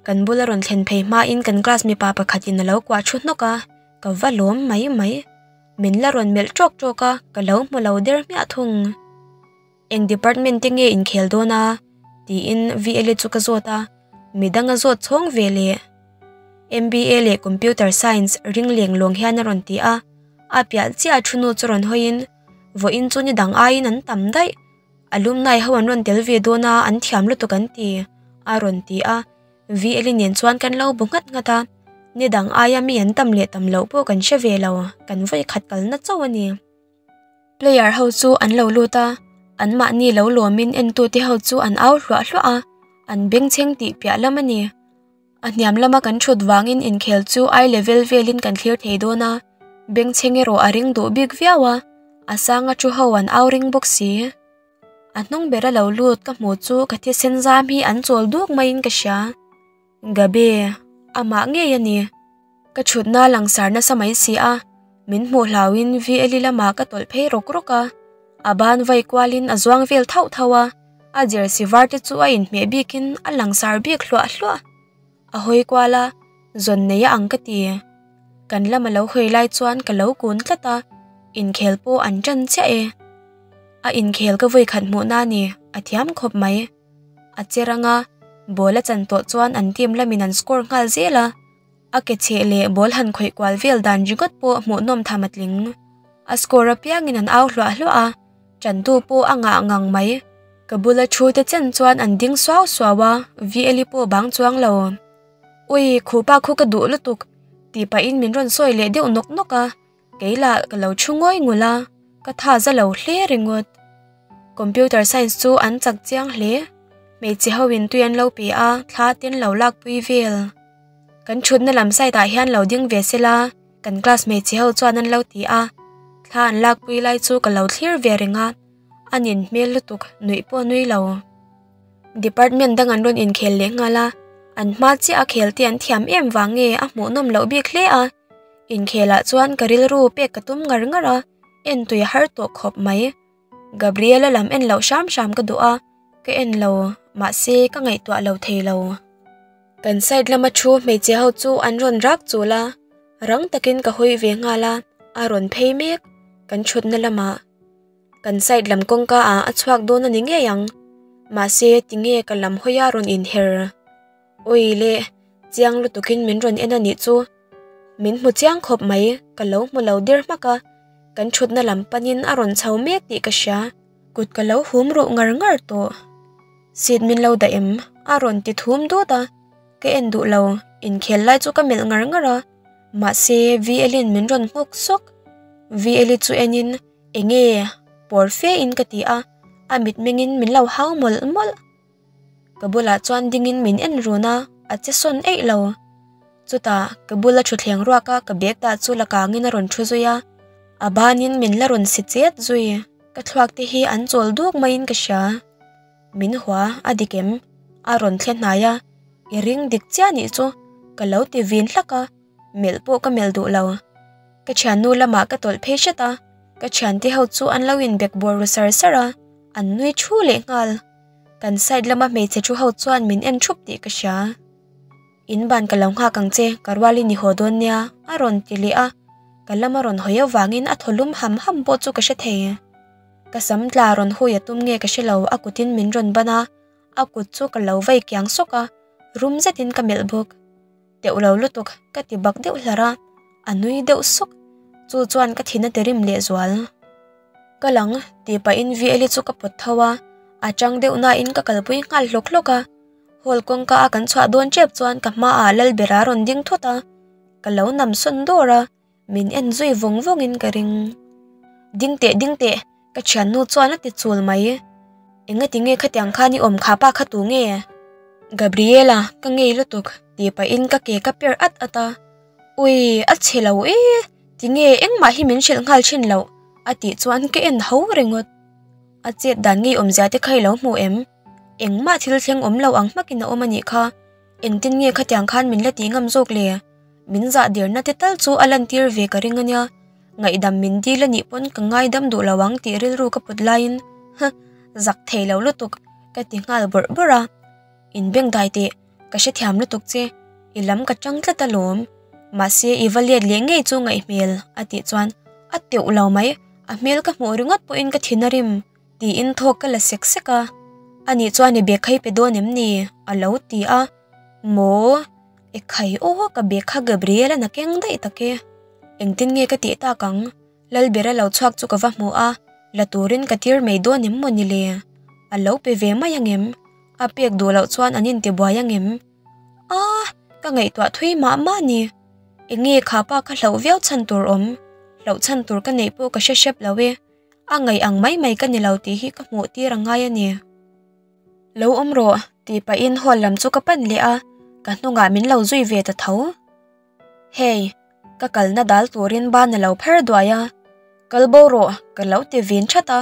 Kan bul a rawn thlen phei hmain kan class mipa pakhatin a lo kuah thu hnawk a, ka va lawm mai mai. Min la rawn melh trawk trawk a, ka lo hmu lo der hmiah thung. Eng department te nge inkhel dawn a? tiin VLA chu ka zawt a, mi danga zawt chhawng ve leh. MBA leh Computer Science ring leng luang hian a rawn ti a, a piah chiah a thunu chu rawn hawiin vawiin chu ni dang aiin an tam daih. Alumni ho an rawn tel ve dawn a, an thiam lutuk an ti, a rawn ti a. VLA nen chuan kan lo bu nghat nghat a, ni dang aia mi an tam leh tam loh pawh kan hre ve lo, kan vawi khat kalna chauh a ni. Player ho chu an lo lut a, an mahni lo lawmin entute ho chu an au hluah hluah a, an bengchheng tih piah lam a ni. A hniam lama kan ṭhut vangin inkhel chu I level velin kan thlir thei dawn a, bengchheng erawh a ring duh bik viau a, a sanga ṭu ho an au ring bawk si. A hnung ber a lo lut ka hmuh chu ka thisen zam hi an chawl duk maiin ka hria. Gabe, Amah ngei a ni. Ka thutna langsar nasa mai si a, min hmuh hlau in VLI lamah ka tawlh phei rawk rawk a. A ban vai kual in a zuang vel thauh thauh a, a jersey var te chu a inhmeh bik in a langsar biak hluah hluah. A hawi kual a, zawn nei a ang ka ti. Kan lam a lo hawi lai chuan ka lo kun tlat a, inkhel pawh an tan chiah e. A inkhel ka vawi khat hmuhna a ni, a thiam khawp mai. a che rang a ball a chan tawh chuan an team lam in an score nghal zel a a ke chheh leh ball han khawih kual vel dan ringawt pawh hmuh nawm tham a tling a score apiang in an au hluah hluah a chantu pawh a ngah ngang mai ka bula thu te chen chuan an ding suau suau a viali pawh bang chuang lo ui khupa khaw ka duh lutuk tih pahin min rawn sawi leh deuh nawk nawk a. Kei lah ka lo thu ngawih ngawih la, ka tha za lo hle ringawt. Computer Science chu an chak chiang hle, hmeichhe ho in tui an lo pe a, thla te an lo lakpui vel. Kan thutna lam side ah hian lo ding ve se la, kan class hmeichhe ho chuan an lo ti a, thla an lakpui lai chu ka lo thlir ve reng a, a nen hmel lutuk, nuih pawh nui lo. Department dang an rawn inkhel leh nghal a, an hma chiah a khel te an thiam em vang nge a hmuhnawm loh bik hle a, Inkhelah chuan ka rilru pek ka tum ngar ngar a, en tui har tawh khawp mai. Gabriela lam en lo hram hram ka duh a, ka en lo mahse ka ngaihtuah lo thei lo. Kan side lama thu hmeichhe ho chu an rawn rak chul a, rang takin ka hawi ve nghal a, a rawn phei mek kan thutna lama. Kan side lam kawngka ah a chhuak dawn a ni ngei ang, mahse tinge ka lam hawia rawn inher. Ui le, chiang lutukin min rawn en a nih chu. Min hmu chiang khawp mai, ka lo hmu lo der hmak a, kan thutna lam panin a rawn chho mek tih ka hria. Kut ka lo hum ruh ngar ngar tawh, seat min lo daih em? A rawn ti thum dut a, ka en duh lo, inkhel lai chu ka melh ngar ngar a, mahse VLin min rawn nghawk sawk. VLi chu enin, Enge? Pawr fe in ka ti a, a mitmengin min lo hau mawlh mawlh. ka bulah chuan dingin min en run a, a che sawn eih lo. Chutah ka bula thutthleng ruak a ka bag dah chu la kangin a rawn thu zui a, a banin min la rawn si chet zui. Ka thluak te hi an chawl duak maiin ka hria. Min hua a dik em? A rawn thle hnai a, i ring dik chiah nih chu, ka lo ti vin hlak a, melh pawh ka melh duh lo. Ka thiannu lamah ka tawlh phei hret a, ka thiante ho chu an lo inbek buar ru ser ser a, an nui thu lehnghal. Kan side lama hmeichhe thu ho chuan min en thup tih ka hria. In ban ka lo nghak ang che, ka rual i ni haw dawn nia a rawn ti leh a, ka lam a rawn hawi avangin a thawlum ham ham pawh chu ka hre thei. Ka sam tla rawn hui a tum nge ka hre lo, a kutin min rawn ban a, a kut chu ka lo vei kiang sawk a, rum zetin ka melh bawk. teuh lo lutuk ka ti bak deuh hlar a, a nui deuh suk, chu chuan ka thin a ti rim leh zual. Ka lang tih pahin Vieli chu ka pawt tho a, a chang deuh nain ka kalpui nghal hlawk hlawk a, hall kawngka a kan chhuah dawn tep chuan ka hma ah lal bera a rawn ding thut a, ka lo nam sawn dawr a, min en zui vawng vawng in ka ring ding teh ding teh ka thian nu chuan a ti chul mai eng ati nge khatiang khan i awm kha pa kha tu nge Gabriela ka ngei lutuk ti pah in ka ke ka per at at a ui a chhe lo e ti nge engmah hi min hrilh nghal thin loh a tih chuan ka en ho ringawt a chet dan ngei awmzia te kha i lo hmu em. Engmah thil thleng awm lo ang hmakin a awm a nih kha. Engtin nge khatiang khan min la tih ngam zawk le. Min zah dirna te tal chu a lantir ve ka ring a nia. Ngaihdam min dil a nih pawn ka ngaidam duh lo ang tih rilru ka put laiin, Huh, zak thei lo lutuk, ka ti nghal bawrh bawrh a. In beng dai teh, ka hre thiam lutuk che. I lam ka chang tlat alawm. Mahse i va let leh ngei chu ngaih hmel, a tih chuan a teuh lo mai. A hmel ka hmuh ringawt pawhin ka thin a rim. Tiin thawk ka la sek sek a, ani chuan i bekhai pe dawn em ni? a lo ti a, maw i khai aw ka bekha Gabriel a na keng daih tak e, engtin nge ka tih tak ang? Lalbera lo chhuak chu ka va hmu a, la turin ka tir mai dawn em maw ni le? A lo pe ve mai ang em? A pek duh loh chuan an intibuai ang em? Aaa ka ngaihtuah thui mah mah ni, enge kha pa ka hlauh viau chhan tur awm, hlauh chhan tur ka neih pawh ka hre hrep lo e. a ngaih ang mai mai ka ni lo tih hi ka hmuh tir ang ngai a ni. Lo awm rawh, tih pahin hall lam chu ka pan leh a, ka hnungah min lo zui ve ta tho. Hey, ka kalna dal turin ban a lo pher duai a, kal bo rawh, ka lo ti vin that a,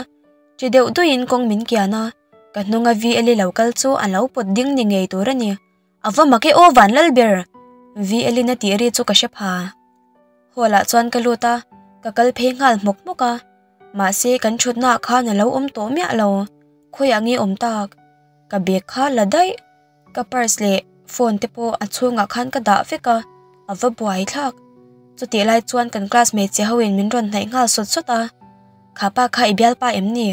ti deuh duihin kawng min kian a, ka hnunga VLI lo kal chu a lo pawt ding ni ngei tur a ni. A va mak e aw Vanlal ber! Vielin a tih ri chu ka hre pha. Hall ah chuan ka lut a, ka kal phei nghal hmawk hmawk a. Mahse kan thutnaah khan a lo awm tawh miah lo, khawi ang i awm tak. Ka bag kha la daih, ka purse leh phone te pawh a chhungah khan ka dah vek a, a va buai thlak. Chutih lai chuan kan class hmeichhia ho in min rawn hnaih nghal sawt sawt a, Kha pa kha i bialpa em ni?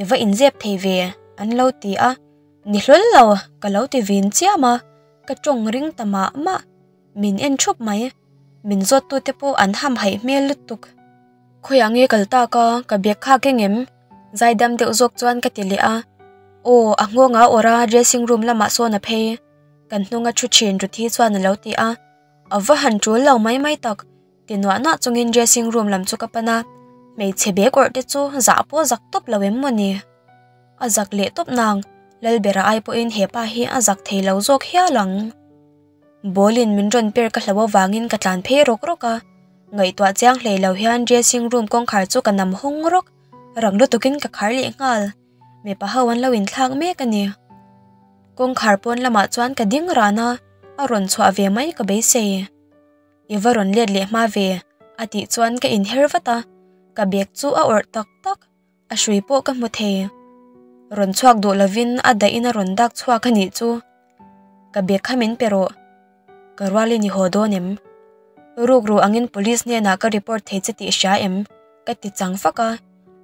I va inzep thei ve? an lo ti a. Ni hlawl lo ka lo ti vin chiam a, ka tawng ring ta mah mah, min en thup mai, min zawttute pawh an hamhaih hmel lutuk. Khawi ang e kal tak a, ka bag khak eng em? Zaidam deuh zawk chuan ka ti leh a, aw a nghawng a awrh a, dressing room lamah sawn a phei, kan hnunga thu thin Ruthi chuan a lo ti a, a va han tul lo mai mai tak. ti nuah nuah chungin dressing room lam chu ka pan a hmeichhe bag awrh te chu zah pawh zak tawp lo em maw ni a zak leh tawp nang lal berah ai pawhin hepa hi a zak thei lo zawk hial ang bawlin min rawn per ka hlo avangin ka tlan phei rawk rawk a ngaihtuah chiang hlei lo hian dressing room kawngkhar chu ka nam hawng rawk rang lutukin ka khar leh nghal mipa ho an lo inthlak mek a ni kawngkhar pawn lamah chuan ka ding rana a rawn chhuah ve mai ka beisei. i va rawn let leh hma ve a tih chuan ka in her vat a, ka bag chu a awrh tak tak, a hrui pawh ka hmu thei. Rawn chhuak duh lovin a dahin a rawn dak chhuak a nih chu. Ka bag kha min pe rawh, ka rual i ni haw dawn em? Rukru angin police hnenah ka report thei che tih hria em? ka ti chang fak a,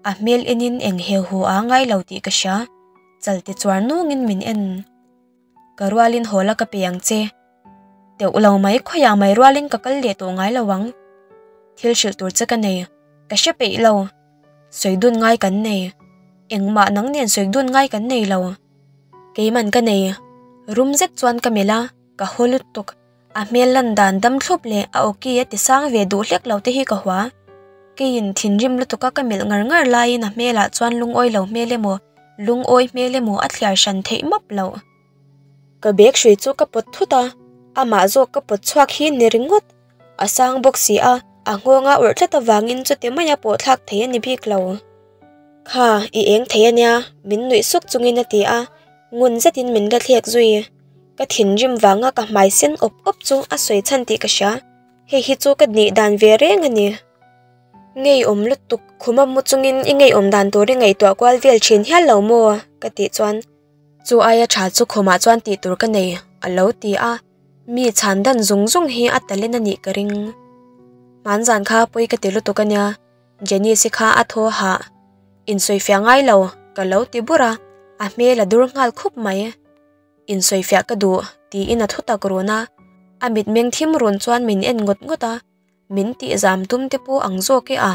a hmel enin eng heuh heuh a ngai lo tih ka hria, chal tichuar nungin min en. Ka rualin hawl a ka pe ang che. Teuh lo mai khawiah mai rualin ka kal leh tawh ngai lo ang. Thil hrilh tur che ka nei. Ka hre peih lo. Sawi dun ngai kan nei. Engmah nang nen sawi dun ngai kan nei lo. Keiman ka nei. Rum zet chuan ka melh a, ka haw lut tuk. A hmel lan dan dam thlup leh a okay a tisang ve duh hlek lo te hi ka hua. Keiin thinrim lutuk a ka melh ngar ngar laiin a hmel ah chuan lungawi lo hmel emaw lungawi hmel emaw a thliar hran theih map lo. Ka bag hrui chu ka pawt thut a, amah zawk ka pawt chhuak hi ni ringawt a sang bawk si a, a nghawng a urh tlat avangin chute mai a pawhthlak thei a ni bik lo. Kha, i eng thei a nia, min nuih suk chungin a ti a, ngun zetin min hrethlek zui. Ka thinrim vanga ka hmai sen awp awp chu a sawi chhan tih ka hria. Hei hi chu ka hnih dan ve reng a ni. Ngeiawm lutuk khuma mu chungin i ngeiawm dan tur i ngaihtuah kual vel thin hial lo maw? ka tih chuan. Chu aia tha chu khumah chuan tih tur ka nei, a lo ti a. Mi chhan dan zung zung hi a talen a nih ka ring. Hmaan zan kha pawi ka ti lutuk a nia, Janice-i kha a thaw ha insawi fiah ngai lo, ka lo ti bur a, a hmel a dur nghal khup mai. insawi fiah ka duh, tiin a thu tak run a, a mitmeng thim run chuan min en ngawt ngawt a, min tihzam tum te pawh ang zawk e a.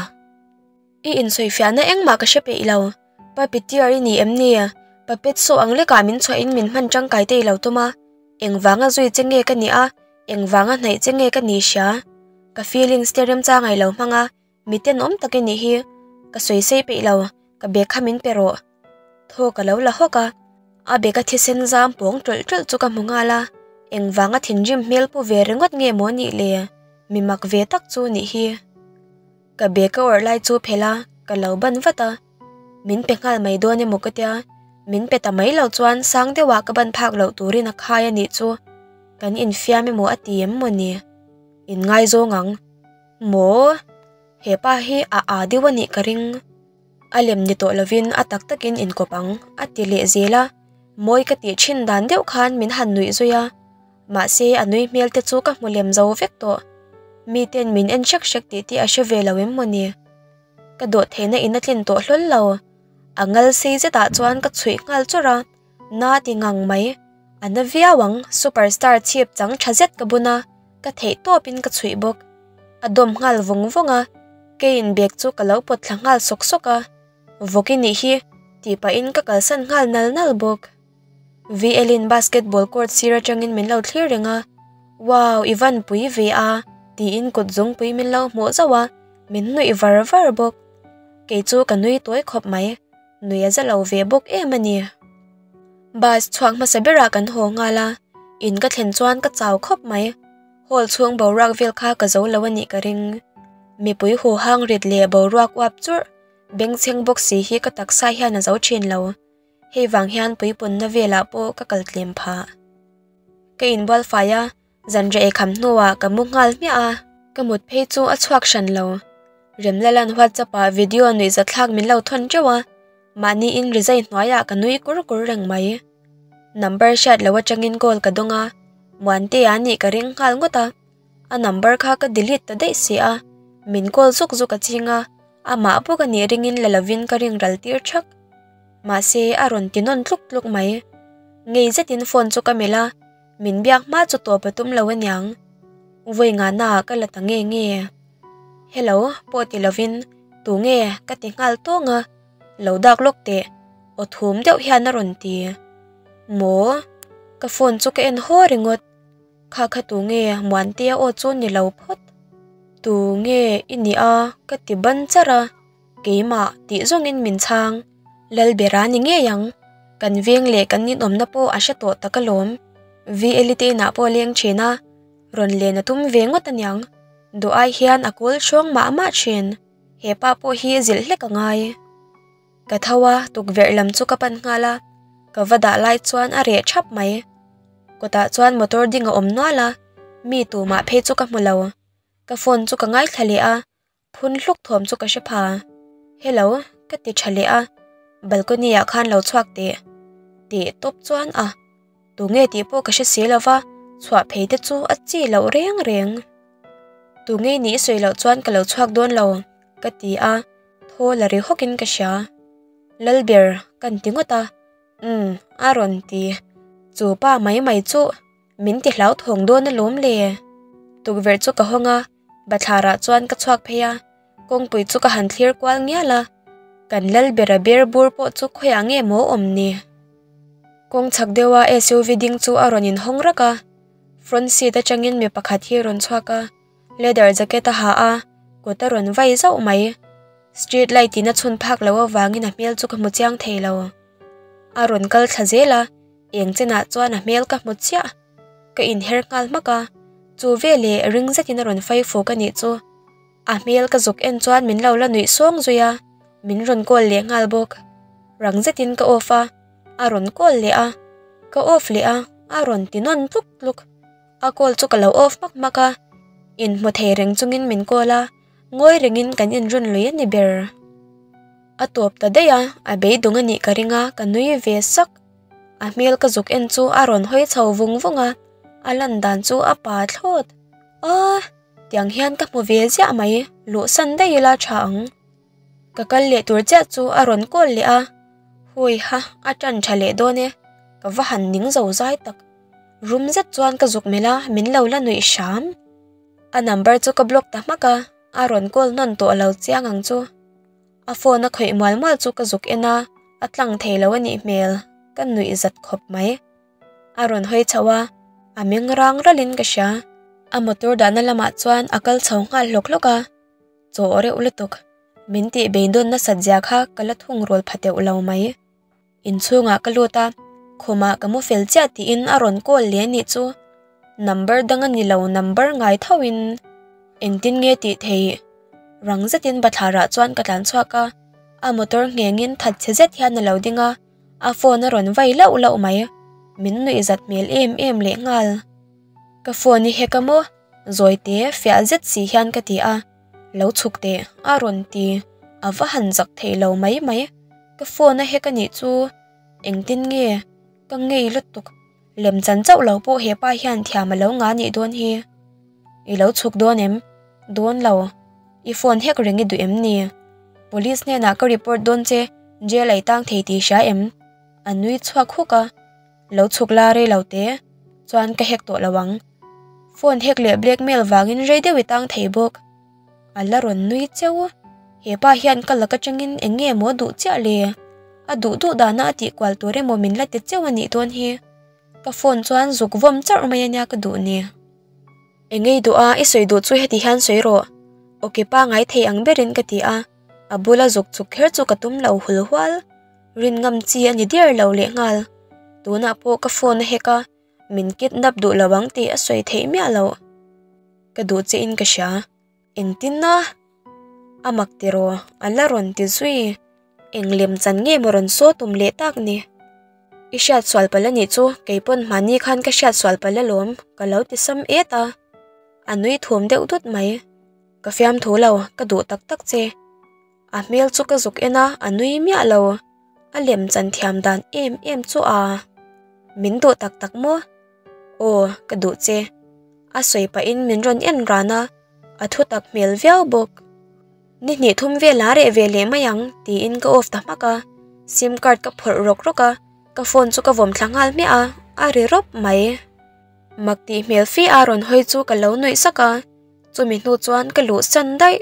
I insawi fiah na engmah ka hre peih lo, Pa Pitiar i nih em ni? Pa Petso ang lekah min chhuah in min hman tangkai te i lo tawm a, eng vanga zui che nge ka nih a, eng vanga hnaih che nge ka nih hria? Ka feelings te remchang ailo hmang a, Mite nuam takin nih hi ka sawi sei peih lo, ka bag kha min pe rawh. Thaw ka lo la hawk a, a bag a thisen zam pawng ṭawlh ṭawlh chu ka hmu nghal a, engvang a thinrim hmel pu ve ringawt nge maw nih le, mi mak ve tak chu nih hi. Ka bag ka awrh lai chu phel a, ka lo ban vat a, min pe nghal mai dawn emaw ka tia, min pe ta mai lo chuan sang deuha ka ban phak loh turin a khai a nih chu, kan infiam emaw a ti em maw ni? In ngaizawng ang. Maw? He pa hi a aa deuh a nih ka ring. A lem ni tawh lovin a tak takin in kawp ang a ti leh zel a, mawi ka tih thin dan deuh khan min han nuih zui a, mahse a nui hmel te chu ka hmu lem zo vek tawh. Mi ten min en hrek hrek tih te a hre ve lo em maw ni? Ka dawh theihna in a tlin tawh hlawl lo, a ngal sei zetah chuan ka chhuih nghal chawrh a, Na ti ngang mai, a na viau ang, super star chhip chang tha zet ka bun a, ka theih tawp in ka chhuih bawk. A dawm nghal vawng vawng a, kei in bag chu ka lo pawt thla nghal sawk sawk a, vawk i nih hi tih pah in ka kalsan nghal nal nal bawk. VL in basketball court sir atang in min lo thlir reng a, wow i van pui ve a ti in kut zawng pui min lo hmuh zauh a, min nuih var var bawk. Kei chu ka nui tawi khawp mai. nuih a za lo ve bawk em a ni. Bus chhuak hmasa berah kan haw nghal a, in ka thlen chuan ka chau khawp mai. Hall chhung boruak vel kha ka zo lo a nih ka ring. Mipui huhang rit leh boruak uap churh, bengchheng bawk si hi ka taksa hian a zo thin lo. Hei vang hian puipunna velah pawh ka kal tlem phah. Ka inbual fai a. Zanriah i kham hnuah ka mu nghal hmiah a. Ka mut phei chu a chhuak hran lo. Remlalan WhatsApp ah video a nuih zat thlak min lo thawn teuh a, mahni in resei hnuaiah ka nui kur kur reng mai. Number hriat lo atangin call ka dawng a, Muante a nih ka ring nghal ngawt a. A number kha ka delete ta daih si a, min call zuk zuk a ching a, amah bawk a nih ringin la lovin ka ring ral tir thak. Mahse a rawn ti nawn tluk tluk mai. Ngei zetin phone chu ka melh a. min biak hma chu tawp a tum lo aniang vawi ngah na ah ka la ta nge nge helo pawh ti lo in tu nge ka ti nghal tawng a lo dak lawk teh aw thum deuh hian a rawn ti maw ka phone chu ka en haw ringawt kha kha tu nge muan tia aw chu ni lo phawt tu nge i nia ka ti ban char a. Keimah tih zawngin min chhang lal ber a ni ngei ang. Kan veng leh kan inawmna pawh a hre tawh tak alawm. VLI te inah pawh a leng thin a, rawn len a tum ve ngawt a niang. Duhai hian a kawl hrawng mah mah thin. Hepa pawh hi zilh hlek a ngai. Ka tho a, tukverh lam chu ka pan nghal a, ka va dah lai chuan a reh thap mai. Kawtah chuan motor ding a awm nual a, mi tumah phei chu ka hmu lo. Ka phone chu ka ngaithla leh a, Phun hluk thuam chu ka hre pha. Hello, ka ti tha leh a, balcony ah khan lo chhuak teh. Ti tawp chuan a, Tunge tih pawh ka hre si lo va, chhuah phei te chu a chi loh reng reng. Tunge nih i sawi loh chuan ka lo chhuak dawn lo, ka ti a, thaw la ri hawk in ka hria. Lal ber kan ti ngawt a, Umm, a rawn ti. Chu pa mai mai chu. Min ti hlau thawng dawn alawm le. Tukverh chu ka hawng a, Bathlarah chuan ka chhuak phei a, kawngpui chu ka han thlir kual ngial a, kan lal ber a ber bur pawh chu khawiah nge maw awm ni. Kawng chhak deuha SUV ding chu a rawn inhawng rak a, front seat atangin mi pakhat hi a rawn chhuak a. Leather jacket a ha a, kut a rawn vai zauh mai. Street light in a chhun phak loh avangin a hmel chu ka hmu chiang thei lo. A rawn kal thla zel a, eng chenah chuan a hmel ka hmu chiah. Ka inher nghal hmak a, chu veleh ring zetin a rawn fai fuk a nih chu. A hmel ka zuk en chuan min lo la nuih sawng zui a, min rawn call leh nghal bawk. Rang zetin ka off a, a rawn call leh a. Ka off leh a, a rawn ti nawn tluk tluk. A call chu ka lo off mak mak a, in hmu thei reng chungin min call a, ngawi rengin kan in run lui a ni ber. A tawp ta daih a, a beidawng a nih ka ring a, ka nui ve sak. A hmel ka zuk en chu a rawn hawi chho vung vung a, a lan dan chu a pa thlawt. Aw! tiang hian ka hmu ve ziah mai, luhsan daih ila tha ang. Ka kal leh tur chiah chu a rawn call leh a, Huiha, a tan tha leh dawn e. Ka va han ning zo zai tak. Rum zet chuan ka zuk melh a, min lo la nuih hram. A number chu ka block ta hmak a, a rawn call nawn tawh lo chiang ang chu. A phone a khawih mual mual chu ka zuk en a, a tlang thei lo a nih hmel ka nuih zat khawp mai. A rawn hawi chho a, a meng rang ralhin ka hria. A motor dahna lamah chuan a kal chho nghal hlawk hlawk a. chaw reuh lutuk. Min tih beidawn nasat zia kha ka la thung rual pha teuh lo mai. Inchhungah ka lut a, khawma ka mu fel chiah tiin a rawn call leh anih chu. Number dang ani lo, number ngai tho in engtin nge tih thei? Rang zetin Bathlarah chuan ka tlan chhuak a, a motor nghengin that chhe zet hian a lo ding a, a phone a rawn vai lauh lauh mai. Min nuih zat hmel em em lehnghal. Ka phone i hack a maw? Zawite fiah zet si hian ka ti a, lo chhuk teh a rawn ti a va han zak theih lo mai mai. Ka phone a hack anih chu engtin nge ka ngei lutuk, lem chan chauh lo pawh hepa hian thiam a lo nga anih dawn hi, i lo chhuk dawn em? Dawn lo, i phone hack reng i duh em ni? Police hnenah ka report dawn che jail ei tang thei tih hria em? A nui chhuak huk a. lo chhuk la rei lo te chuan ka hek tawh lo ang phone hek leh blackmail vangin rei deuh i tang thei bawk a la rawn nui cheu hepa hian ka lak atangin eng nge maw duh chiah le a duh duh dana a tih kual tur emaw min la ti cheu a nih dawn hi ka phone chuan zuk vawm chauh mai ania ka duh nia eng nge i duh a i sawi duh chu heti hian sawi rawh okay pa ngai thei ang berin ka ti a a bula zuk chhuk kher chu ka tum lo hul hual. Rin ngam chi a ni diar lo leh nghal. Tunah pawh ka phone a hack a, min kidnap duh lo ang tih a sawi theih miah lo. Ka duh che in ka hria. Engtin a? A mak tiraw? A la rawn ti zui. Eng lem chan nge maw rawn saw tum leh tak ni? I hriat sual palh anih chu, kei pawn mahni khan ka hriat sual palh alawm, ka lo ti sam et a. A nui thuam deuh dut mai. Ka fiam thu lo, ka duh tak tak che. A hmel chu ka zuk en a, a nui miah lo. A lem chan thiam dan em em chu a. Min duh tak tak maw? Aw, ka duh che. A sawi pahin min rawn en ran a, a thu tak hmel viau bawk. Ni hnih thum vela reh ve leh mai ang, tiin ka off ta hmak a. Sim card ka phawrh rawk rawk a, ka phone chu ka vawm thla nghal hmiah a, a ri rawp mai. Mak tih hmel fia rawn hawi chu ka lo nuih sak a, chumi hnu chuan ka luh san daih.